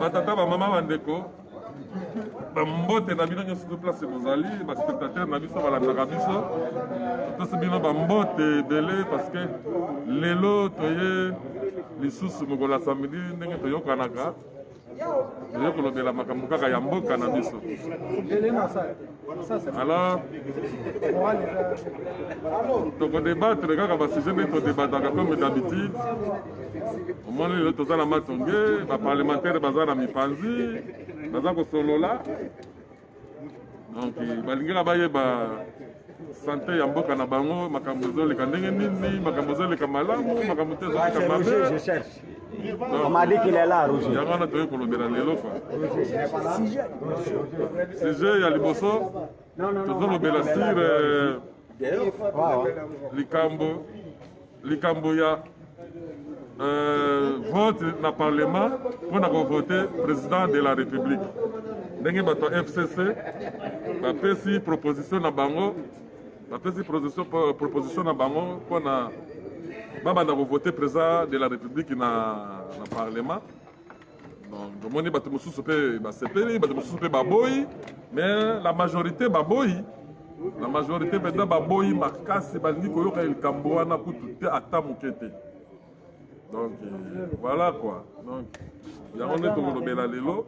batata bamama bandeko bambote na bino nyonso to place bozali baspectateur na biso balandaka biso tosi bino bambote ebele parce que lelo toye lisusu mokolo ya samedi ndenge toyokanaka toza kolobela makambo kaka ya mboka na biso alors tokodebatre kaka basujet nde todebataka comme d'habitude omoni lelo toza na matonge baparlementaire baza na mipanzi baza kosolola donc balingaka bayeba sante ya mboka na bango makambo ezoleka ndenge nini makambo ezoleka malamu makambo te ezoleka mabe On m'a dit qu'il est là, Roger. yango wana toyei kolobela lelo fa sujet ya liboso tozolobela sur euh, likambo likambo ya euh, vote na parlement mpo na kovote président de la république ndenge bato ya fcc bapesi proposition na bango bapesi proposition na bango mpo na babanda kovote président de la république na, na parlement Donc, tomoni bato mosusu mpe basepeli bato mosusu mpe baboyi mais la majorité baboyi la majorité mpenza baboyi makasi balingi koyoka likambo wana kutu te ata moke te donc euh, voilà quoi donc yango nde tokolobela lelo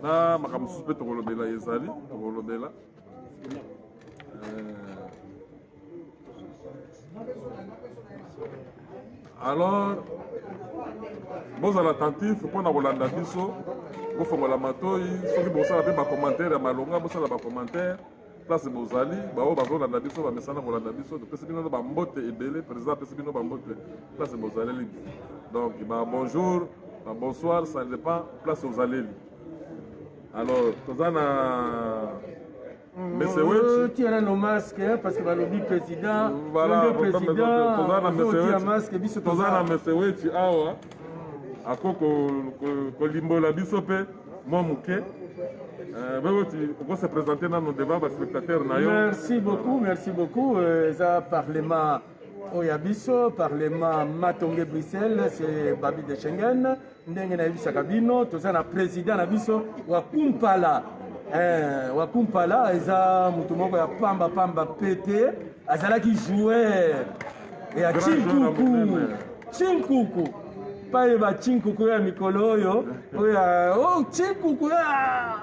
na makambo mosusu mpe tokolobela ezali tokolobela euh, alors bozala attentif mpo na kolanda biso bofongola matoi soki bosala mpe bacommentaire ya malonga bosala bacommentaire place bozali baoyo bazolanda biso bamesana kolanda biso topesi bino bambote ebele président apesi bino bambote place bozaleli donc ba bonjour ba bonsoir ça dépend place ozaleli alors toza na Monsieur euh, Wetchi. Tu as nos masques hein, parce que balobi président. Voilà, président. Toza na Monsieur Wetchi. masque biso toza na Monsieur Wetchi awa. Ako ko ko limbola biso pe mwa moke. Euh, wewe uko se présenter nano devant ba spectateurs na yo. Merci beaucoup, merci beaucoup. Euh, eza parlement oyo ya biso parlement matonge bruxelles se babi de schengen ndenge nayebisaka bino toza na président na biso wakumpala eh, wakumpala eza moto moko ya pamba pamba pete azalaki joueur ya chinkuku chinkuku paye ba chinkuku ya mikolo oyo oyo oh, chinkuku ya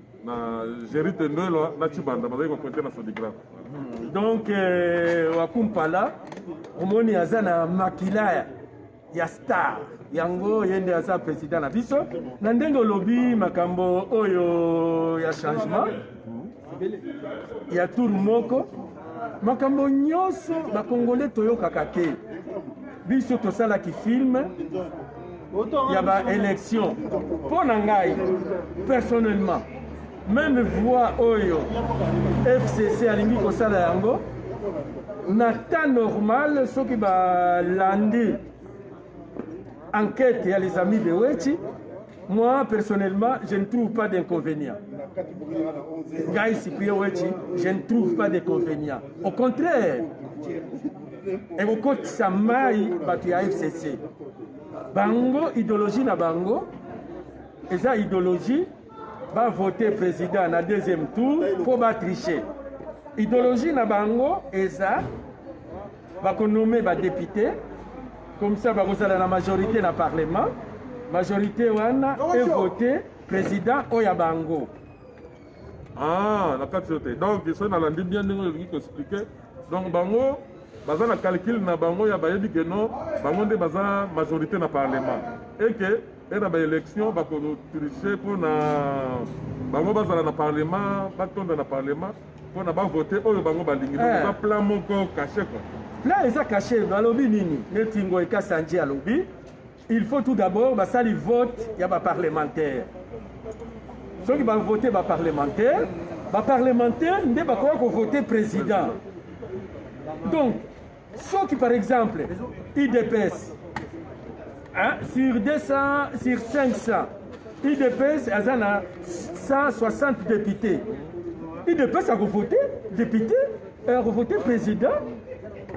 na gerite ndwelwa na chibanda bazali koprete na sodigraf donc euh, wakumpala omoni aza na makila ya star yango ye nde aza president na biso na ndenge olobi makambo oyo ya changement ya tour moko makambo nyonso bakongole toyokaka te biso tosalaki filme ya baélection mpo na ngai personnellement meme voix oyo fcc alingi kosala yango na temps normal soki balandi enquête ya les amis de wechi Moi, personnellement, je ne trouve pas d'inconvénient. Guy Cyprien Wechi, je ne trouve pas d'inconvénient. Au contraire, ekokotisa mai bato ya fcc bango idéologie na bango eza idéologie bavote président na deuxième tour mpo batriche idéologie na bango eza bako nomme ba député comme ça bakozala na majorité na parlement majorité wana evote président oyo ya bango ah na kati te donc so nalandi bien ndenge olingi koexplike donc bango baza na calcul na bango ya bayebi ke non bango nde baza majorité na parlement eke mpe na baélection bakotriche mpo na bango bazala na parlement batonda na parlement mpo na bavote oyo bango balingi eh. eza plan moko kashe kua plan eza kashe balobi nini neti ngoy kasanje alobi il faut tout d'abord basali vote ya baparlementaire soki bavote baparlementaire baparlementaire nde bakoya kovote président donc soki par exemple idps hein, sur 200 sur 500 idps aza na 160 députés idps akovote député akovote président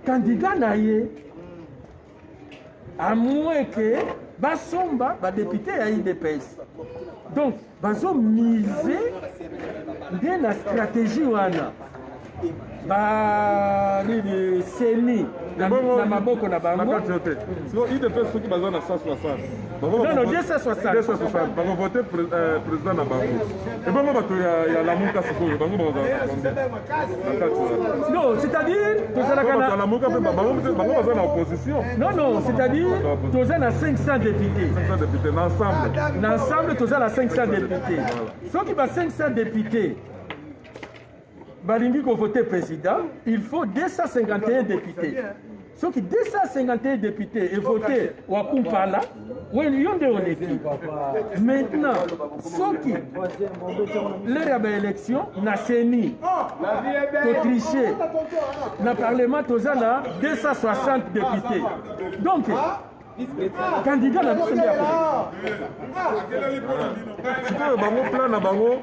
candidat na ye à moins que basomba badepute ya idps donc bazo mise nde na stratégie wana ba nini seni na maboko na bango siko idps soki baza na 160 bakovote euh, président na bango ebongo bato ya lamuka sikoyo bango bakozala Non, c'est-à-dire, tozalaka na bango baza na opposition. Non non, c'est-à-dire toza na 500 députés. 500 députés na ensemble. Na ensemble toza na 500 députés. Soki ba 500 députés balingi ko voter président, il faut 251 députés. soki 251 depute evote wakumpala yo nde oleki maintenant soki lere ya baélection na seni totriche na parlement toza na 260 depute donc candidat na biso nde ya sikoyo bango plan na bango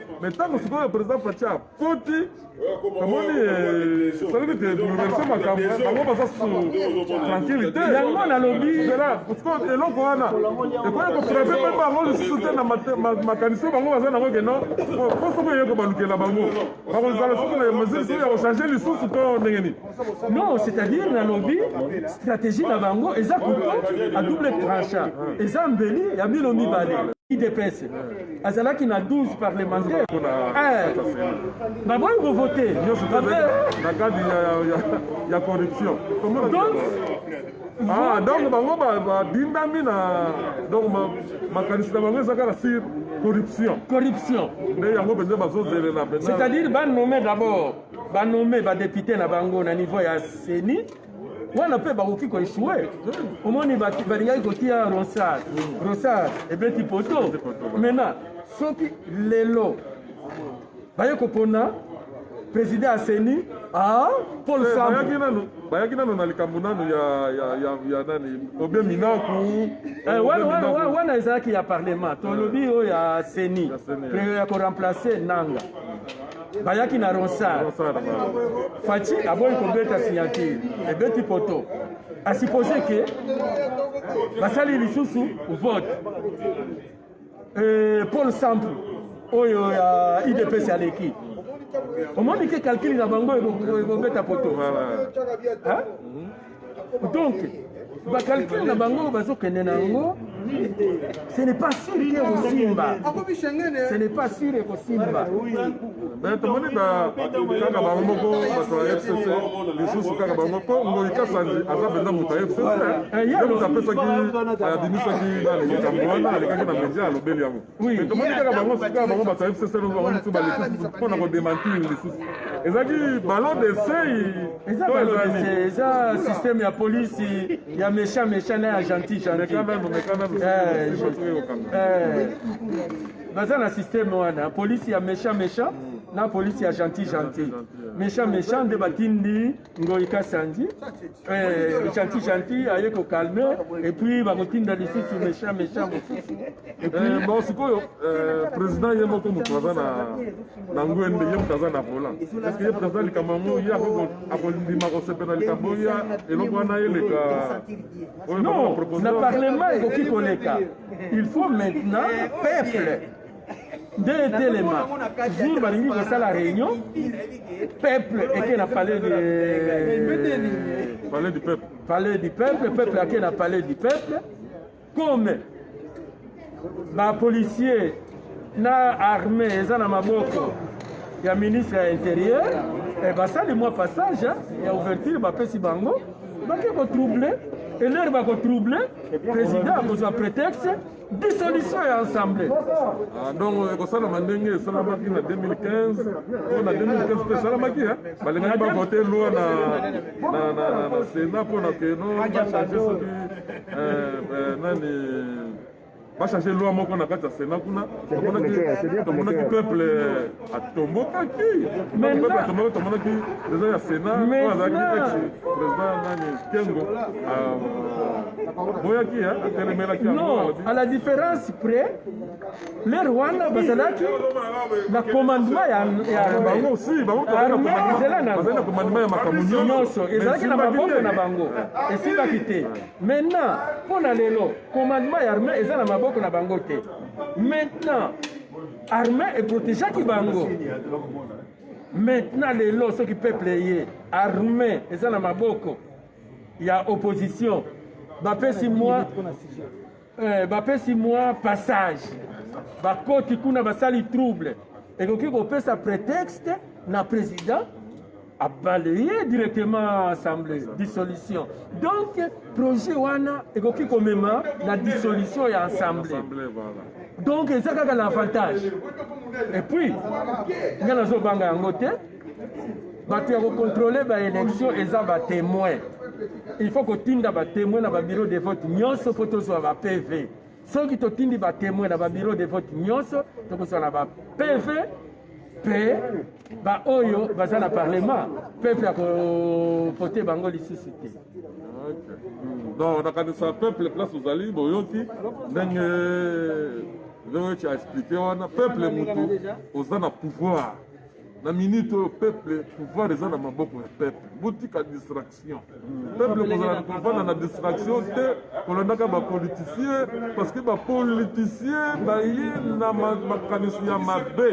me ntango sikoyo président faci akoti amoni esalaki te bouleverse makambo bango baza tranquille te yango nalobi sikoyo eloko wana ekoki kofrape mpe bango lisusu te na makanisi oyo bango baza nango keno mpo soko eye kobalukela bango bakozala soko na mesure soko ya kochange lisusu to ndenge nini non c'est-à-dire nalobi stratégie na bango eza couteau à double tranchant eza mbeli ya bino mibale idps azalaki na 12 parlementaire baboyi kovote nyonso na kadi ya corruption Ah, donc bango babindami na donc makanisi na bango ezaka na sur corruption corruption nde yango mpenza bazozelela c'est-à-dire banome d'abord ba nomme ba député na bango na niveau ya CENI wana mpe bakoki koeshue omoni balingaki kotia ronsard ronsard ebeti poto maintenant soki lelo baye kopona président ya CENI ah, Paul eh, Sambo bayaki nano na likambo nano ya, ya, ya, ya nani obe minaku eh, wana ezalaki ya parlement tolobi oyo ya seni ya koremplace nanga bayaki na ronsard faci aboyi kobeta signature ebeti poto asupose ke basali lisusu vote euh, paul sample oyo ya idps aleki omoni ke calcule na bango ekobeta poto donc bakalkile na bango bazokende na yango ce n'est pas sûr ke ekosimba ce n'est pas sûr ekosimba eh, tomoni kaka bango moko bato ya fcc lisusu kaka bango mpo ngoi kasandi aza mpenza moto ya fcc ye moto apesaki abimisaki nani makambo wana alekaki na media alobeli yango tomoni kaka bango sika bango bato ya fcc bango mosusu balisusu mpo na kodemantir lisusu ezalaki ballon de sei eza systeme ya polisi ya méchant méchant na ya gentil gentil baza na systeme wana polisi ya méchant méchant na polisi ya gentil gentil méchant méchant nde batindi Ngoyi Kasanji eh, gentil gentil aye ko calme et puis bakotinda lisusu méchant méchant mosusu et puis eh, bon sikoyo eh, président ye moko moto aza na na ngwende ye moto aza na volant parce que ye président likambo yango ye akondima kosepela likambo ya eloko wana eleka non na parlement ekoki koleka il faut maintenant peuple nde etelema jour balingi kosala réunion peuple eke na palais de palais du peuple palais du peuple peuple ake na palais du peuple comme bapolicier na armée eza na maboko ya ministre ya intérieur eh, basali mwa passage ya ouverture bapesi bango bake kotrouble elere bakotrouble président akozwa prétexte dissolution ya assemblée ah, donc euh, ekosalama ndenge esalamaki na 2015 mpo na 2015 mpe esalamaki balingaki bavote loi na sénat mpo na keno bachange soki euh, euh, nani bachange loi moko na kati ya sénat kuna tomonaki peuple atombokaki atombokaki tomonaki eza ya sena oyo azalaki ex président nani kengo boyaki atelemelaki non à la différence près lere wana bazalaki na commandement ya bango si bango ezala na commandement ya makambo nyonso ezalaki na maboko na bango esimbaki te maintenant mpo na lelo commandement ya armée eza na maboko na bango te maintenant armée eprotegeaki bango maintenant lelo soki peuple eye armée eza na maboko ya opposition bapesi mwa eh, bapesi mwa passage bakoti kuna basali trouble ekoki kopesa prétexte na président a balaye directement assemblée dissolution donc projet wana ekoki komema na dissolution ya assemblée donc eza kaka na avantage et puis nga nazobanga yango te bato ya kokontrole baélection eza batémoin il faut kotinda batémoin na babiro de vote nyonso mpo tozwa ba pv soki totindi batémoin na babiro de vote nyonso tokozwa na ba pv mpe baoyo baza na parlement peuple akovote bango lisusu te donc nakanisa peuple place ozali boyoki ndenge veoci aexplike wana peuple motu oza na pouvoir na minute oyo peuple pouvoir eza na maboko ya peuple botika distraction peuple kozala kovanda na distraction te kolandaka bapoliticien parce que bapoliticien baye na makanisi ya mabe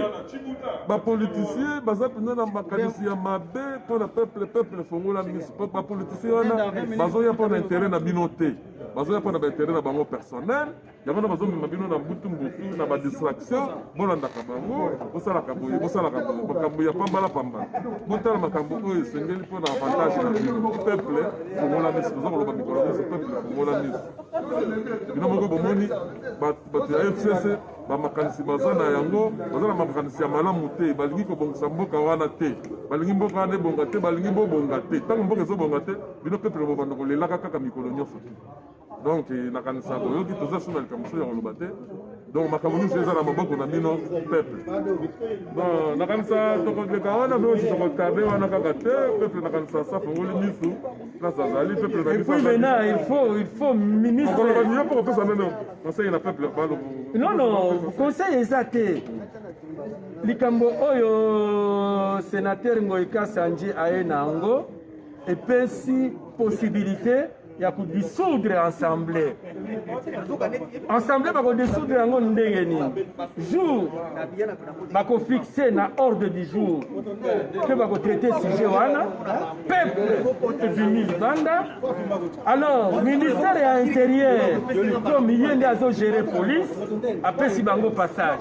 bapoliticien baza mpenza na makanisi ya mabe mpo na peuple peuple fongola miso bapoliticien wana bazoya mpo na interet na bino te bazoya mpo na bainteret na bango personnel yango na bazomema bino na mbutu mbutu na badistraction bolandaka bango bosalaka boye bosalaka boye makambo ya pambala pambala botala makambo oyo esengeli mpo na avantage na bino peuple fongola miso toza koloba mikolo miso peuple fongola miso bino moko bomoni bato ya fcc bamakanisi baza na yango baza na makanisi ya malamu te balingi kobongisa mboka wana te balingi mboka wana ebonga te balingi bobonga te ntango mboka ezobonga te bino peuple bobanda kolelaka kaka mikolo nyonso te donc nakanisa boyoki toza suna likambo so ya koloba te donc makambo nyonso eza na maboko na bino peuple bon nakanisa tokoleka wana mpe osi tokotabe wana kaka te peuple nakanisa safongoli misu place azali peuple na biso maintenant il faut il faut ministre koloba niyo mpo kopesa meme conseil na peuple balo non non conseil eza te likambo oyo senateur ngoikasi anje aye na yango epesi possibilité ya kodisoudre ensemble ensemble bakodisoudre yango ndenge nini jour bakofixe na ordre du jour mpe bakotraite sujet wana peuple ebimi libanda alors ministère ya intérieur to miye nde azogere police apesi bango passage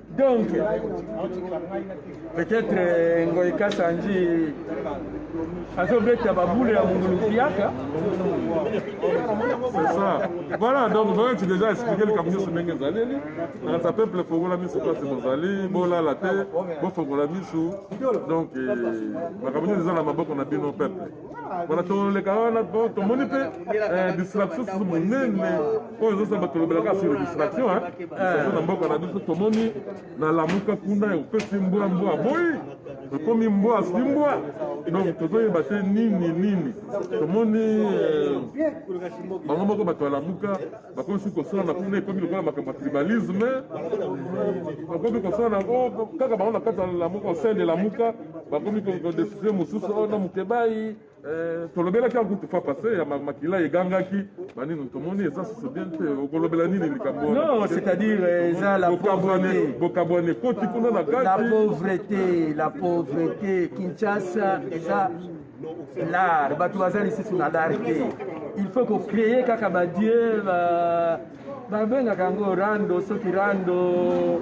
Donc, peut-être euh, Ngoy Kassanji azobeta baboule ya mungulukiaka c'est ça voilà donc vraiment tu déjà expliqué likambo nyonso ndenge ezaleli nakasa peuple fongola miso place bozali bolala te bofongola miso donc euh, makambo nyonso eza na maboko na bino peuple Voilà, toleka wana po tomoni mpe eh, distraction susu monene oyo ezosala bato lobelaka sur distraction distraction eh. na mboka na biso tomoni nalamuka kuna opesi mbwa mbwa boyi ekomi mbwa si mbwa donc tozoyeba te nini nini tomoni eh, bango moko bato balamuka bakomi soki kosala na kuna ekomi lokola makambo ya tribalisme bakomi kosala na kaka bango na kati ya lamuka osende lamuka bakomi kodesizio mosusu oyo na mokebai eh, tolobelaki yango tufa passe ya makila egangaki banini tomoni eza susu bien te okolobela nini likambo non c'est-à-dire eh, eza la pauvreté bokabwane koti kuna na kati la pauvreté la pauvreté kinshasa eza lar bato baza lisusu na lar te il faut kocreye kaka badie babengaka yango rando soki rando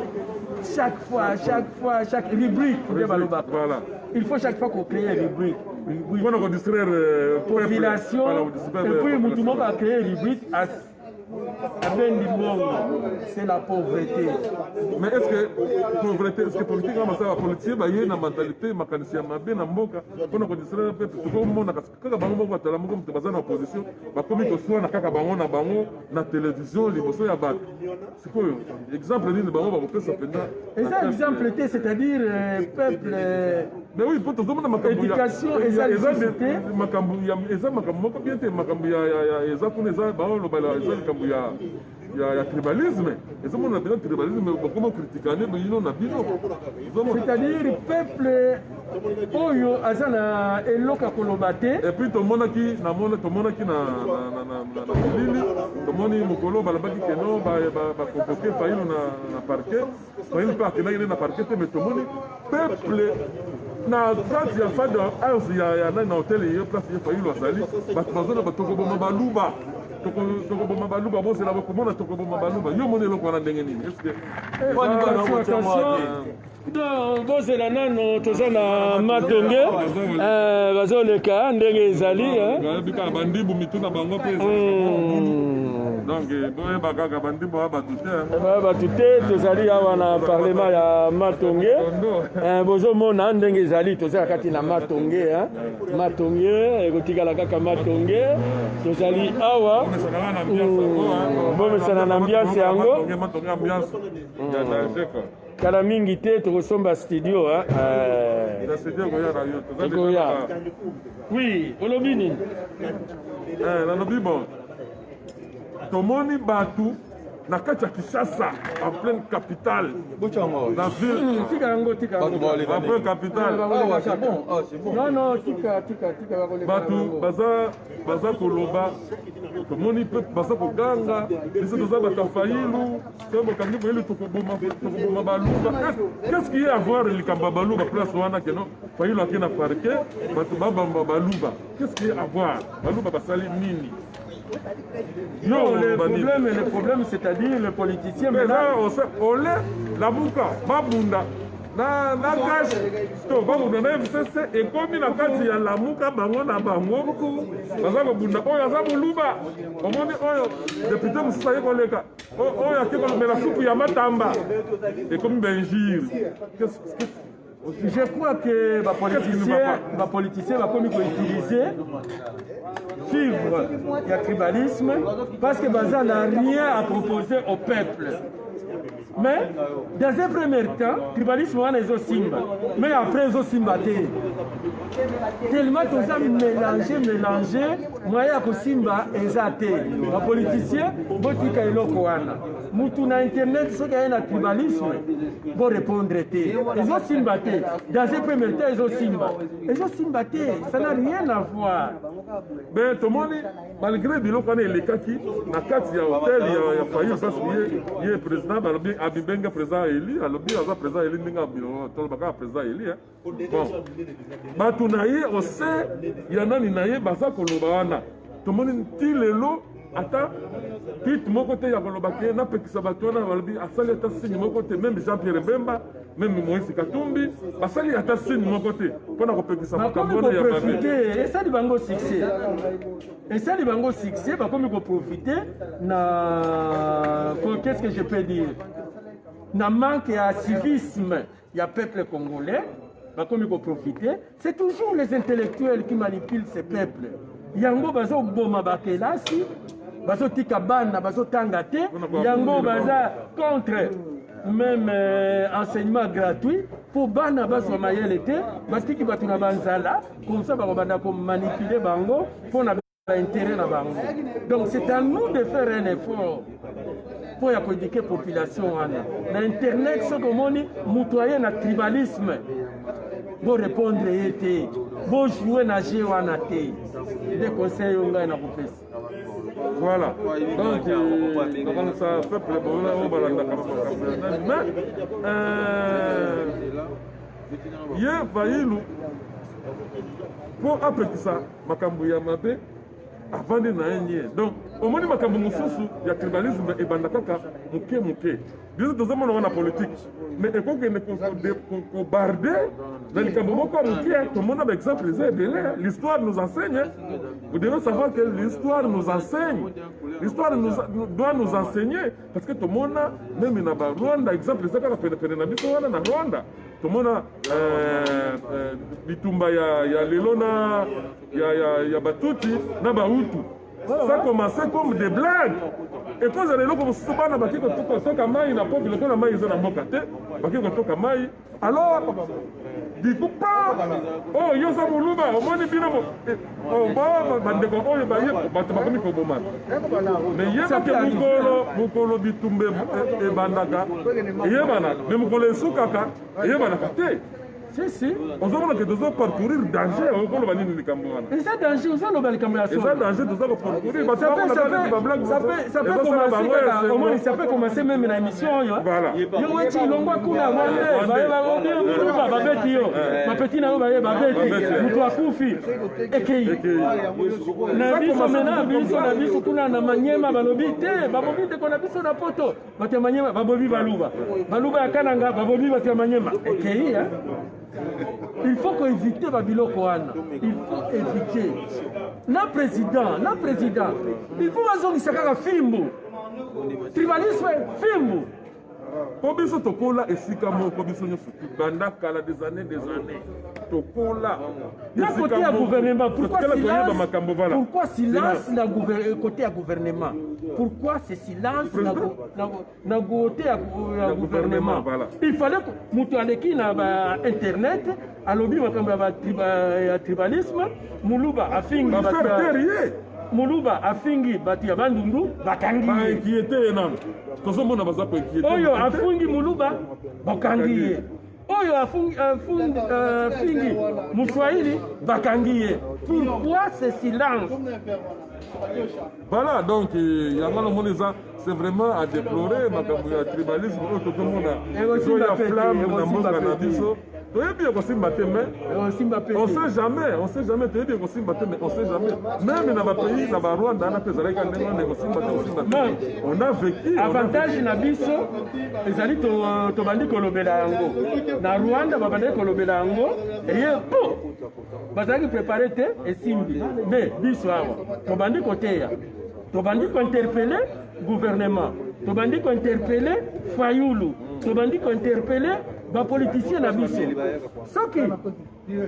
chaque fois chaque fois chaque rubrique nde balobaka il faut chaque fois kocreye rubrique mpona kodistraire population epuis motu moko acreye rubrique abendi mbongo c'est la pauvreté mais est ce que pauvreté est ce que politique na masala bapolitier baye na mentalité makanisi ya mabe na mboka mpona kodistraire mpe tokomonaka kaka bango moko batala moko moto baza na opposition bakomi koswana kaka bango na bango na televizio liboso ya bato sikoyo exemple nini bango bakopesa mpenza eza exemple te c'est-à-dire euh, peuple euh, mais oui mpo tozomona makamboéducation eza lisusu te makambo eza makambo moko bien te makambo eza kuna eza baolobala eza likambo ya ya, ya tribalisme ezomona mpenza tribalisme bakoma kritikane bino na bino c'est-à-dire peuple oyo aza na eloko ya koloba te epuis tomonaki tomonaki na bilili tomoni mokolo balobaki keno bakonvoke fayilo na parquet fayilo mpe akendaki nde na parquet te mais tomoni peuple na kati ya fade house ya nani na hotel ye place ye fayilo azali bato bazona batokoboma baluba tokoboma baluba bozela bakomona tokoboma baluba yo moni eloko wana ndenge nini bozela nano toza na matenge eh, bazoleka ndenge ezali eh. bikala bandibu mitu na bango mpe hmm. donc eh, boyeba kaka bandibu ya bato te ya bato te tozali awa na parlema ya matonge bozomona ndenge ezali toza kati na matonge matonge ekotikala kaka matonge tozali awa bomesana na ambiance yango hmm. kala mingi te tokosomba studio ekoya wi olobi nini eh, nalobi bon tomoni bato na kati ya Kinshasa en pleine capitale la ville hmm, tika yango tika en pleine capitale bato baza baza koloba tomoni mpe baza koganga biso toza bato ya fayilu bakangi boyeli tokoboma baluba qu'est-ce qui est avoir likambo ya baluba place wana keno fayulu ake na parke bato babamba baluba qu'est-ce qui est avoir baluba basali nini Non, le problème, le problème, c'est-à-dire le politicien. Mais là, on sait, on l'est, la bouka, ma bunda, na na kashi to babunda na fcc ekomi na kati ya lamuka bango na bango baza kobunda oyo aza moluba omoni oyo depute mosusu aye koleka Oh, oyo ake kolobela supu ya matamba ekomi benjire je crois que bapoliticien bakomi koutilize fibre ya tribalisme parce que baza na rien à proposer au peuple mais dans un premier temps tribalisme wana ezosimba mais après ezosimba te tellement toza mélange mélange moyen ya kosimba eza te bapoliticien botika eloko wana mutu na internet soki aye na tribalisme borepondre te ezosimba te dans un premier temps ezosimba ezosimba te ça n'a rien à voir ben tomoni malgré biloko wana elekaki na kati ya hotel ya fayi mpasi ye président balobi abibenge président eli alobi aza président eli ndenge tolobaka président eli bon bato na ye ose ya nani na ye baza koloba wana tomoni nti lelo ata tweet moko te ya koloba te napekisa bato wana balobi asali ata signe moko te meme jean pierre bemba meme moïse katumbi basali ata signe moko te mpo na kopekisa makambo wana ya babe esali bango succès esali bango succès bakomi koprofite na qu'est ce que je peux dire na manque ya civisme ya peuple congolais bakomi koprofite c'est toujours les intellectuels qui manipulent ce peuple yango bazoboma bakelasi bazotika bana bazotanga te yango baza contre même euh, enseignement gratuit mpo bana bazwa mayele te batiki bato na banzala komsa bakobanda komanipule bango mpo na intérêt na bango donc c'est à nous de faire un effort mpo ya koedike population wana na internet soki omoni moto aye na tribalisme borepondre ye te bojoue na je wana te nde conseil yo ngai nakopesa voilà donc nakanisa euh, peuple boona oyo balandaka makambo ya nani mais euh, ye vayilu mpo apekisa makambo ya mabe avandi na ye nie donc omoni makambo mosusu ya tribalisme ebanda kaka moke moke biso tozomona ngo na politike mais ekokende kobarde na likambo moko ya moke tomona baexemple eza ebele l'histoire nous enseigne vous devez savoir que l'histoire nous enseigne l'histoire doit nous enseigner parce que tomona meme na barwanda exemple eza kaka penepene na biso wana na rwanda tomona euh, euh, bitumba ya, ya lelo na ya, ya, ya batuti na bahutu ça commence comme des blagues ekozala eloko mosusu bana baki kotoka mai na po biloko na mai eza na mboka te baki kotoka mai alors dikupa oyo oh, oza moluba omoni bino bandeko oyo baye bato bakomi koboma me yebake mokolo mokolo bitumba e- ebandaka eyebanaka me mokolo esukaka eyebanaka te sisi ozomona ke tozo parcourir danger okoloba nini likambo wana eza danger ozoloba likambo ya solo eza danger toza koparcourir bato bakolabablague Ça peut commencer kaka, au moins ça peut commencer même na émission oyo. Voilà. Yo weti longwa kuna mwande, baye ba obi muluba babeti yo. Mapeti na yo baye babeti, mutu akufi. Ekei. Na biso mena biso na biso kuna na Manyema balobi te, babobi te kona biso na poto. Bato ya Manyema babobi baluba. Baluba ya Kananga babobi bato ya Manyema. Ekei hein. il faut ko éviter ba biloko wana il faut éviter na président na président il faut bazongisa kaka fimbu tribalisme fimbu mpo biso tokola esika moko biso nyonso banda kala des années des années tokola na kote ya gouvernement pourquoi silence na kote ya gouvernement pourquoi c'est silence na na gote ya, ya gouvernement il fallait moto aleki na ba internet alobi makambo ya, triba, ya tribalisme muluba afingi muluba afingi bato ya bandundu bakangi ye tozomona baza oyo afungi muluba bakangi ye oyo afingi muswahili bakangi ye pourquoi ce silence voilà donc euh, yango namoni eza c'est vraiment à déplorer makambo ya tribalisme oyo tokomona ezo ya flamme na mboka na biso toyebi ekosimba te mais eh, on sait jamais on sait jamais toyebi ekosimba te mais on sait jamais même na bapays na barwanda wana mpe ezalaki ndenge wana ekosimba te osimba te on a vécu avantage na biso ezali tobandi kolobela yango na rwanda babandaki kolobela yango eye po bazalaki prepare te esimbi me biso awa tobandi koteya tobandi kointerpele gouvernement tobandi kointerpele fayulu tobandi kointerpele bapolitisien na biso soki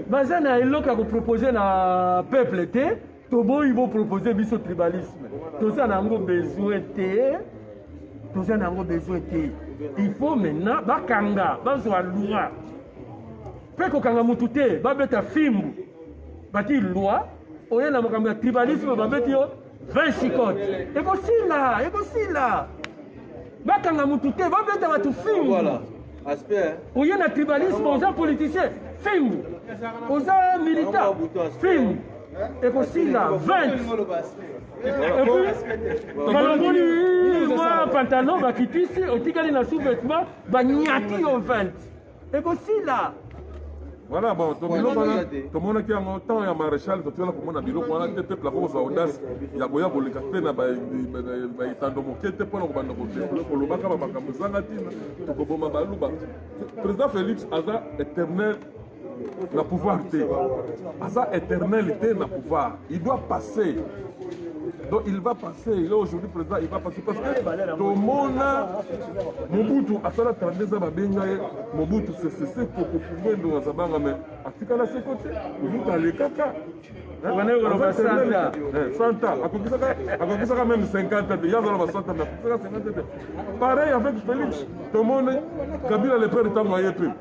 baza na eloko ya kopropose na peuple te toboyi bo proposer biso tribalisme toza na yango besoin te toza na yango besoin te il faut maintenant bakanga bazwa loi mpe kokanga motu te babeta fimbu bati loi oye na makambo ya tribalisme babeti yo 20 chicote ekosila ekosila bakanga motu te babeta bato fimbu oye na tribalisme oza politicien fimbu oza militant fimbu ekosila 20 balongoli mwa pantalon bakitisi otikali na sous-vêtement banyati yo 20 ekosila Voilà, bon, to biloko wana tomonaki yango temps ya maréchal totikala komona biloko wana te peuple ako kozwa audace ya koya koleka te na baetando moke te mpona kobanda kolobaka bamakambo ezanga ntina tokoboma baluba président félix aza éternel na pouvoir te aza éternel te na pouvoir Il doit passer. Donc il va passer, il est aujourd'hui président, il va passer parce que tomona Mobutu asala 32 ans babenga ye Mobutu sesese kokofungwe ndo azabanga me atikala se kote Mobutu alekaka santa akokisaka meme 50 te yazala ba santa me akokisaka 50 te pareil avec Félix tomoni Kabila le père ntango aye mpe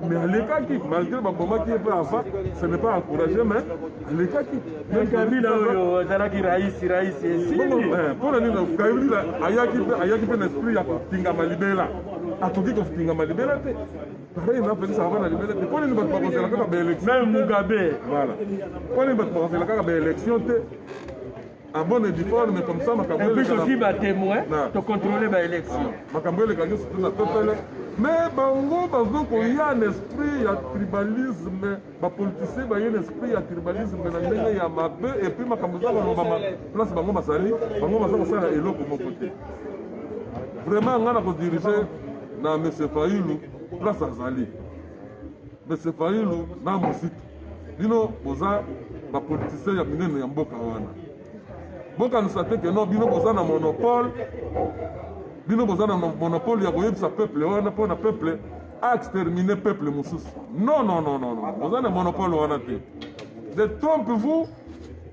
mais alekaki malgré babomaki ye mpe ava ce n'est pas encouragé mais alekaki kabila oyo azalaki raisi raisi mpona nini kabila ayaki mpe na esprit ya kotingama libela akoki kotingama libela te pareil na felix ava na libela te mpo nini bato bakozela kaka baélection mugabe voilà mpo nini bato bakozela kaka baélection te en bonne et due forme comme ça makambo eleka puis aussi ba témoins to contrôler ba élection ah, makambo eleka nyonso te na pepele mais bango bazo koya na esprit ya tribalisme bapolitisien baye na esprit ya tribalisme na ndenge ya mabe epuis makambo eza kolobama place bango bazali bango baza kosala eloko moko te vraiment ngai na kodirige na monsieur fayulu place azali monsieur fayulu na mosiki bino boza bapolitisien ya minene ya mboka wana bokanisa te keno bino boza na monopole bino boza na monopole ya koyebisa peuple wana mpo na peuple aextermine peuple mosusu non non non non boza na monopole wana te de trompe vous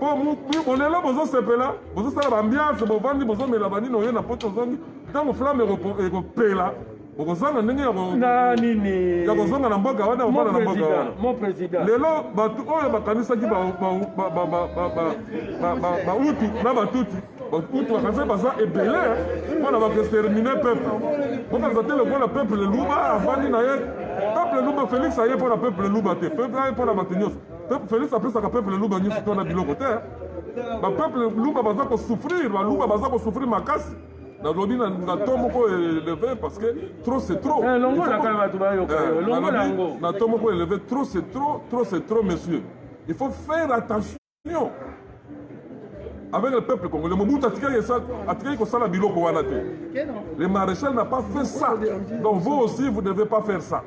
po bolelo bozosepela bozosala bambiance bovandi bozomela banini oye na poto ozongi ntango flamme ekopela okozanga ndenge ya kozonga na mboka wana obana na mboka wana lelo bato oyo bakanisaki bautu na batuti bautu bakanisa baza ebele mpo na bakestermine peuple bokanisa te lokola peuple luba afandi na ye peuple luba félix aye mpo na peuple luba te peuple aye mpo na bato nyonso Felix apesaka peuple luba nyonso to na biloko te. Ba peuple luba baza ko souffrir, ba luba baza ko souffrir makasi. nalobi na to moko eleve parce que trop c'est trop eh, eh, na to moko eleve trop c'est trop trop c'est trop monsieur il faut faire attention avec le peuple congolais mobutu atikaki kosala biloko wana te le maréchal n'a pas fait ça donc vous aussi vous ne devez pas faire ça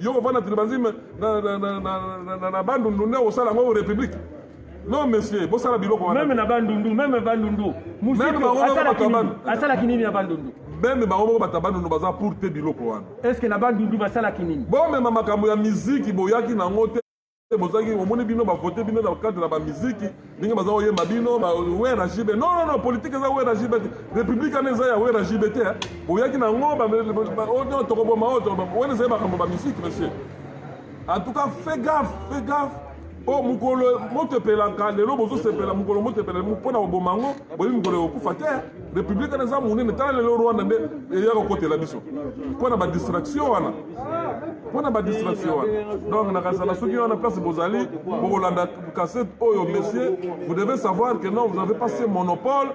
yo kovanda tilibanzi na bandundu nde osala yango république non monsieur bosala biloko wana meme na bandundu meme bandundu asalaki nini na bandundu meme bango moko bato ya bandundu baza pour te biloko wana estce na bandundu basalaki nini bomema makambo ya miziki boyaki nango te bozangi omoni bino bavote bino na cadre na bamiziki ndenge baza koyemba bino wera jibe non non non politike eza wera jibe te république wana eza ya wera jibe te boyaki na yango oh, tokoboma oyo oh, wana ezali makambo bamiziki monsieur en tout cas fait gaffe fait gaffe o oh, mokolo motepelaka lelo bozosepela mokolo motepela mpo na koboma yango boyebi mokolo ekokufa te Republique wana eza monene tala lelo Rwanda nde eya kokotela biso mpo na badistraction wana mpo na badistraction wana donc nakazala soki wana place bozali bokolanda kasete oyo monsieur vous devez savoir que non vous avez pas ce monopole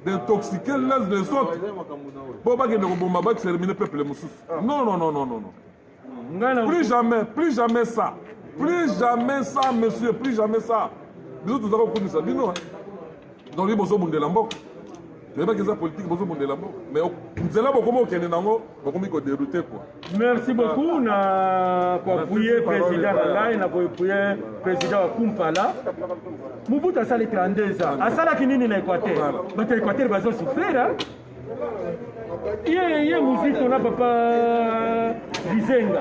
d'intoxiquer les autres mpo bakende koboma baextermine peuple mosusu non non non non non plus jamais plus jamais ça plus jamais ça monsieur plus jamais ça biso toza kokumisa bino donc ye bozobundela mboka toyebaki eza politike bozobundela mboka mais nzela bokomi kokende nango bokomi koderoute kua merci beaucoup na koapuye président na ngai na koapuye président wa kumpala mobutu asali 32 ans asalaki nini na équateur bato ya équateur bazosufrira ye ye muzito na papa bizenga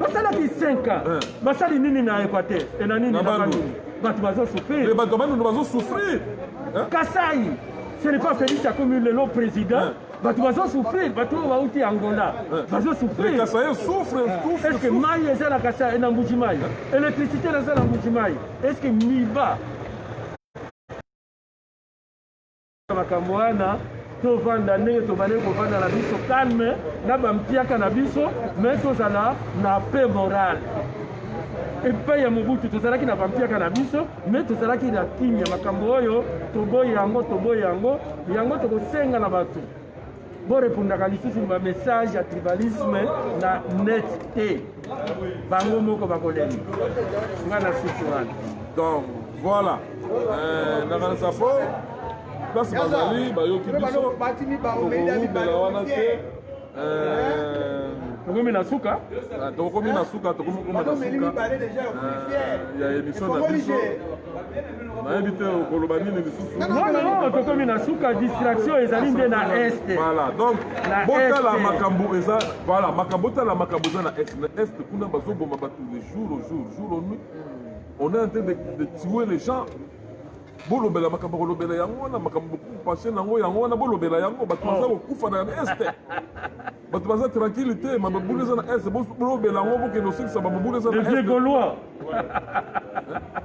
basalaka isenka eh. basali nini na equateur e na nini na bandundu bato bazosouffrir eh, bato bandundu bazosouffrir eh? kasai ce n'est pas felix akomi lelo président bato bazosouffrir bato oyo bauti angola bazosouffrir est ce que mai eza na kasai na mbuji mai électricité naza na mbuji mai est ce que miba makambo wana tovanda ndenge tobandaki kovanda na biso calme na bampiaka na biso me tozala na pe morale epai ya mobutu tozalaki na bampiaka na biso me tozalaki na kimya makambo oyo toboyi yango toboyi yango yango tokosenga na bato Bo repondaka lisusu ba message ya tribalisme na net te. Bango moko bakolenga. Nga na suki wana. Donc voilà. Euh, na kanisa fo place bazali bayoki biso tokowumela wana te euh, tokomi na suka ah, tokomi na suka tokomi kokoma na suka euh, ya émission na biso nayebi te okoloba nini lisusu nono tokomi na suka distraction ezali nde na est voilà donc botala makambo eza voilà makambo botala makambo eza na est na est kuna bazoboma bato de jour au jour jour au nuit on est en train de, de tuer les gens bolobela makambo kolobela yango wana makambo bokupache nango yango wana bolobela yango bato baza oh. kokufa na est bato baza tranquille te mababula eza na est bolobela yango bokende osilisa bababula eza na est gaulois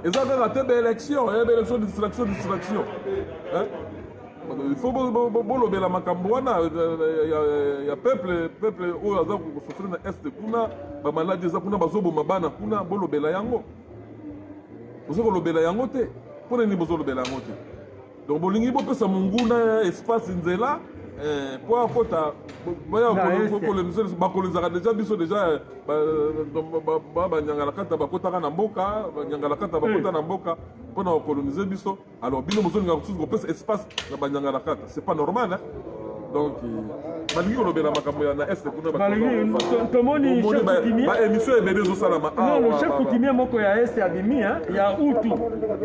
eza kaka te baélection eh, baélection distraction distraction eh? il faut bolobela makambo wana ya peuple peuple oyo aza kosofre na est kuna bamaladi eza kuna bazoboma bana kuna bolobela yango boza kolobela yango te mpo na nini bozolobela yango te donc bolingi bopesa monguna espace nzela eh, mpo akota bakolizaka deja biso deja banyangalakata bakotaka na mboka banyangalakata bakota na mboka mpo na kokolonize biso alors bino bozolingaka mosusu kopesa espace na banyangalakata c'est pas normal hein? donc balingi kolobela makambo ya na est kunatomoni baémission ebele ezosalama chef coutumier moko ya est abimi ya utu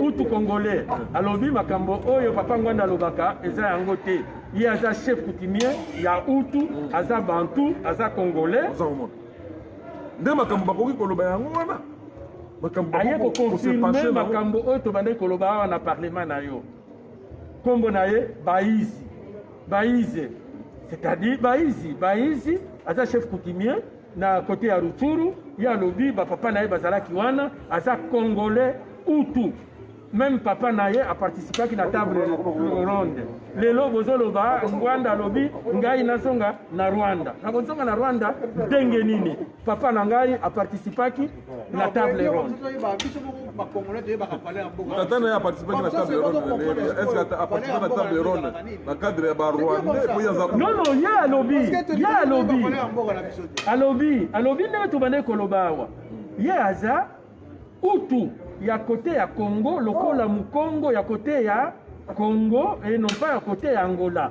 utu congolais alobi makambo oyo papa ngwanda alobaka eza yango te ye aza chef coutumier ya utu aza bantu aza congolais nde makambo bakoki koloba yango wana aye kokonfirme makambo oyo tobandaki koloba awa na parlement na yo Kombo na ye Baizi. Baize. C'est-à-dire Baizi. Baizi aza chef coutumier na kote ya Ruchuru ye alobi bapapa na ye bazalaki wana aza congolais utu meme papa na ye aparticipaki na table ronde lelo bozoloba ngwanda alobi ngai nazonga na rwanda nakozonga na rwanda ndenge nini papa na ngai aparticipaki la table ronde. Tata naye aparticipaki na table ronde est-ce que aparticipa na table ronde na cadre ya barwandais po yaza non non ye alobi ye alobi alobi alobi ndenge tobandaki koloba awa ye aza utu ya kote ya congo lokola mokongo ya kote ya congo e non pas ya kote ya angola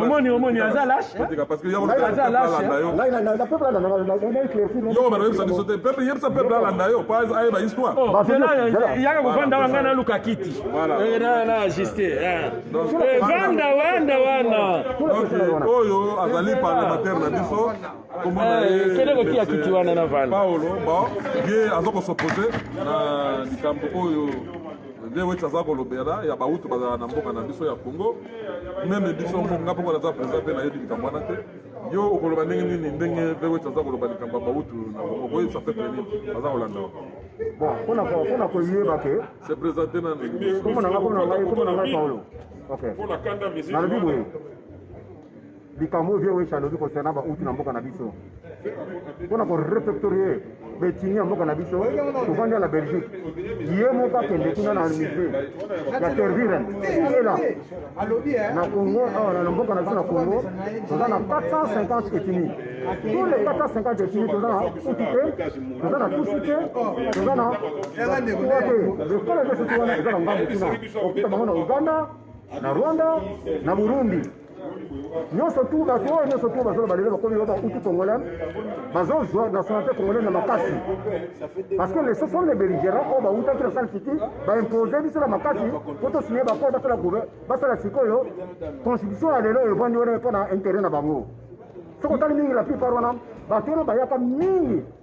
omoni omoni aza lasheyebisa biso te pepe yebisa pepe alanda yo po ayeba histoireyaka kovanda wa ngai naluka kiti na ajuste vanda wanda wana oyo azali parlementaire na biso kende kotia kiti wana na vanda paolo bon ye aza kosopose na likambo oyo nde weti aza kolobela ya bautu bazala na mboka na biso ya congo meme biso ngo nga mpongo naza président mpe nayebi likambo wana te yo okoloba ndenge nini ndenge mpe weti aza koloba likambo ya bautu na congo koyebisa mpe peni aza kolanda bon mpona koyeba ke se présente nanu komona nga komona ngai komona ngai paolo ok nalobi boye likambo oyo vieux wesha alobi concernant bauti na mboka na biso mpo na korefectorie betini ya mboka na biso tovandi na belgique ye moko akende kuna na musée ya terviren ela na congo awa na mboka na biso na congo toza na 450 etini tous les 450 etini toza na utu te toza na tusu te toza na kuwa te lokola ezosusu wana eza na ngambo kuna okita bango na uganda na rwanda na burundi nyonso tu bato oyo nyonso tu bazola balelo bakomi yo bautu congolais bazozwa nationalité congolais na makasi parce que les ce sont les belligérants oyo bautaki na sale city baimpose biso na makasi mpo tosigne bako basala gouve basala sikoyo constitution ya lelo evandi wana mpo na intérêt na bango soki otali mingi la plupart wana bato wana bayaka mingi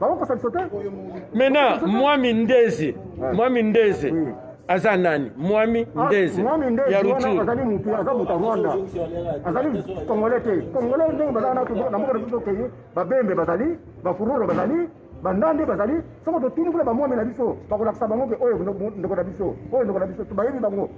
bakokosa biso te mena mwami ndezi eh. mwami ndezi eh. aza nani mwami ah, ndezi ya ruturuazali mutu aza moto ya rwanda azali kongole te kongole ndenge bazala na mboka na biso tokei babembe bazali bafururo bazali bandande bazali soko totuni kuna bamwami na biso bakolakisa bango ke oyo ndeko na biso oyo ndeko na biso bayebi bango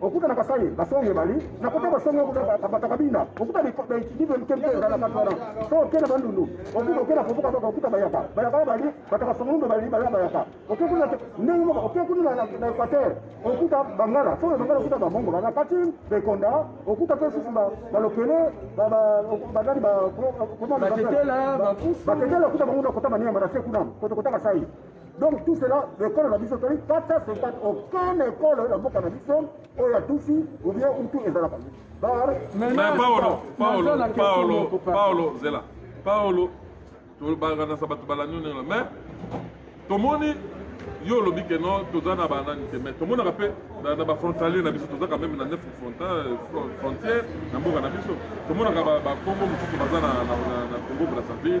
okuta na kasai basonge ebali na kota basonge batakabina okuta bidibe mkemke ezalaka twana so oke na bandundu okuta oke na kovuka baka okuta bayaka bayaka ebali bataka songundu ebali baya bayaka oke kuna ndenge moko oke kuna na equateur okuta bangala so bangala okuta bamongo bana kati bekonda okuta mpe susu balokele banani baketela okuta bango na kota maniema na se kuna koto kota kasai donc tout cela ekolo na biso toli 450 aucun ekolo ya mboka na biso oyo ya tusi obien utu ezalaka bar paolo paolo paolo paolo zela paolo tobakanasa bato balandi onela mais tomoni yo olobi ke no toza na banani te mais tomonaka mpe na bafrontalier na biso tozaka meme na neuf frontière na mboka na biso tomonaka bakongo mosusu baza na congo brazzaville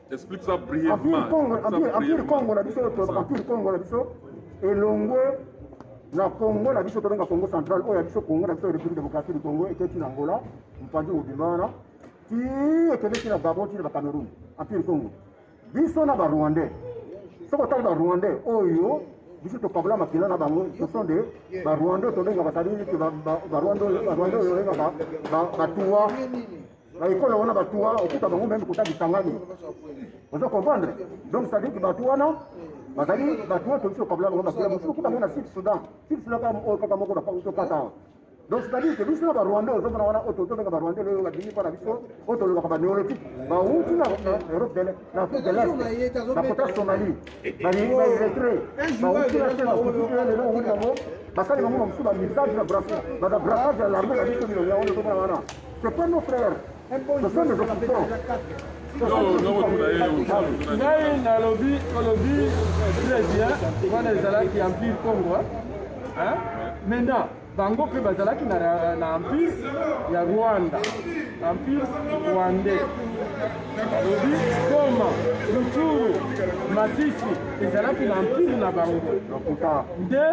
Explique ça brièvement. Empire Congo na biso, Empire Congo na biso, elongwe na Congo na biso tobenga Congo central oyo ya biso Congo na biso République démocratique du Congo eketi na Angola mpanzi mobimba wana ti ekendeki na Gabon ti na Cameroun Empire Congo biso na Barwandais soki otali Barwandais oyo biso tokabola makila na bango ce sont des Barwandais tobenga basali Barwandais oyo olengaka batuwa na ekolo wana bato wana okuta bango meme kota bisangani ozo comprendre donc ça veut dire que bato wana bazali bato wana tokisi okabula bango bakila mosusu okuta bango na sud soudan sud soudan kaka oyo kaka moko tokata awa donc c'est à dire que biso na barwandais ozomona wana oyo tozobenga barwandais loyo babimi mpo na biso oyo tolobaka baneolotike bawuti na europe dele na afrique de l'est bakota somalie baeretre bawuti na se bakuti lelo owuti yango basali bango na mosusu bamisage na brassage ya larme na biso bilongo yango tozomona wana C'est pas nos frères. Un bon joueur, on l'appelle déjà 4. ngai nalobi olobi très bien wana ezalaki empire congo maintenant bango mpe bazalaki na empire ya rwanda empire rwandais alobi goma rutshuru masisi ezalaki na empire na bango nde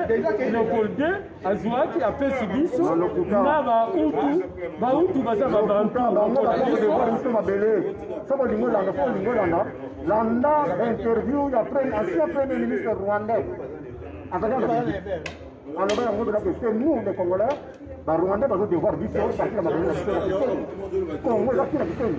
leopold azuaki apesi biso na bautu bautu baza babantu mabele soki olingi olanda soki olingi olanda landa interview ya ancien premier ministre rwandais azali aloba yango biloko ese nous les congolais barwandais bazo devoir biso parti ya mabele na biso na kiseni congo ezaki na kiseni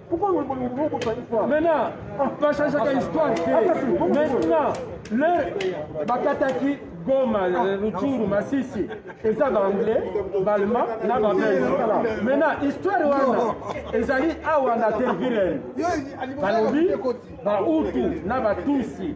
Maintenant, pas changer ta histoire. Maintenant, leur bakataki Goma, Rutshuru, Masisi, eza ba anglais, ba allemand na ba belge. Maintenant, histoire wana ezali awa na Terviren. Balobi ba Hutu na ba Tutsi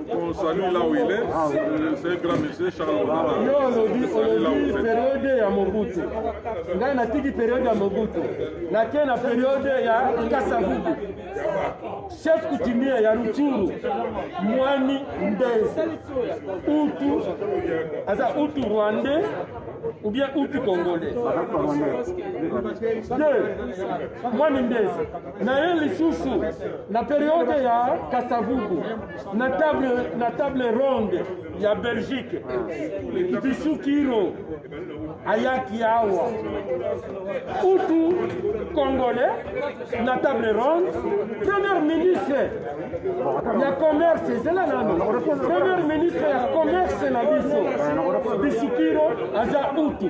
On salue là où il est. Ah, oui. Euh, c'est un grand monsieur, Charles Odala. Yo, olobi, olobi, période ya Mobutu. Ngai natiki période ya Mobutu. Nake na période ya Kasavubu. Chef coutumier ya Rutshuru, Mwani Ndezi. Utu, aza Utu Rwandais ou bien Utu Congolais. Deux, Mwani Ndezi. na ye lisusu na periode ya kasavubu na table, na table ronde ya belgique bisukiro ayaki awa utu congolais na table ronde première ministre ya commerce ezela nano première ministre ya commerce na biso bisukiro aza utu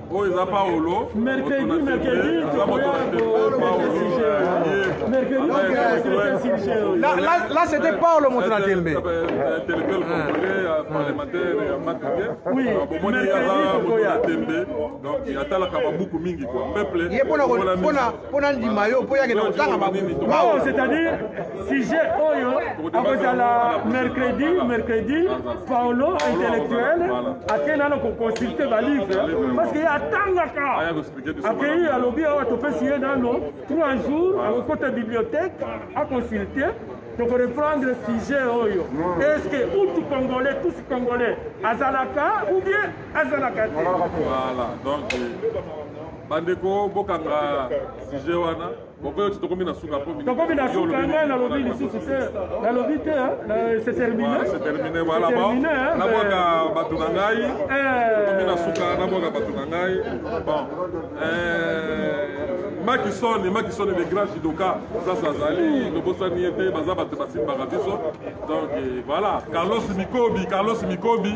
oyo eza paolo là c'était paolo moto na tembe atalaka babuku mingi peuple mpo nandima yo mpo yakenda kotanga mabuku c'est-à-dire sujet oyo akozala mercredi mercredi paolo intellectuel akei nano koconsulte balivre parce que ye atangaka akei alobi awa topesi ye nano trois jours akokota bibliothèque aconsulte toko reprendre sujet oyo est ce que utu congolais tous congolais azalaka ou bien azalaka te voilà donc bandeko bokanga sujet wana bokoyoti tokomi na suka po tokomi na suka ngai nalobi lisusu te nalobi te c'est terminé c'est terminé voilà bon nabwaka bato na ngai tokomi na suka nabwaka bato na ngai bon makisoni makisoni le grand jidoka sasa azali tobosani ye te baza bato basimbaka biso donc voilà carlos mikobi carlos mikobi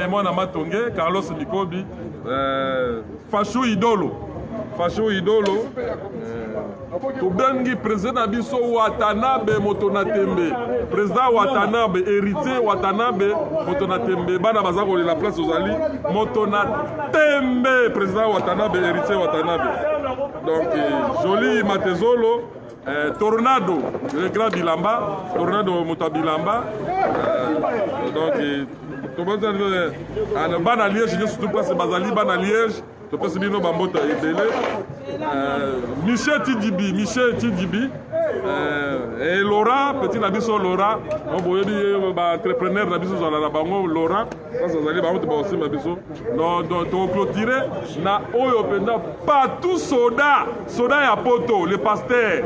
mwana matonge carlos mikobi euh, Fasho idolo fasho idolo eh, tobengi president na biso watanabe moto na tembe president watanabe héritier watanabe moto na tembe bana baza kolela place ozali moto na tembe president watanabe héritier watanabe donc eh, joli matezolo Eh, tornado le grand bilamba tornado moto ya bilamba eh, donc eh, tobazali eh, ah, bana liege nyonso tu place bazali bana liege topesi bino bambota ebele eh, michel tidibi michel tidibi eh, e laura petit na biso laura boyebi baentrepreneur na biso ozala na bango laura sasa azali bango te bakosimba biso tokoclotire na oyo mpenza patou soda soda ya poto le paster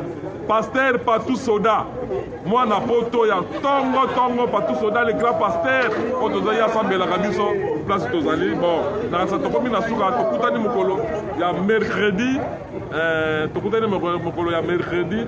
paster patou soda mwana poto ya ntongo ntongo patou soda le grand paster oyo tozali asambelaka biso place tozali bon nakasa tokomi na suka tokutani mokolo ya mercredi eh, tokutani mokolo ya mercredi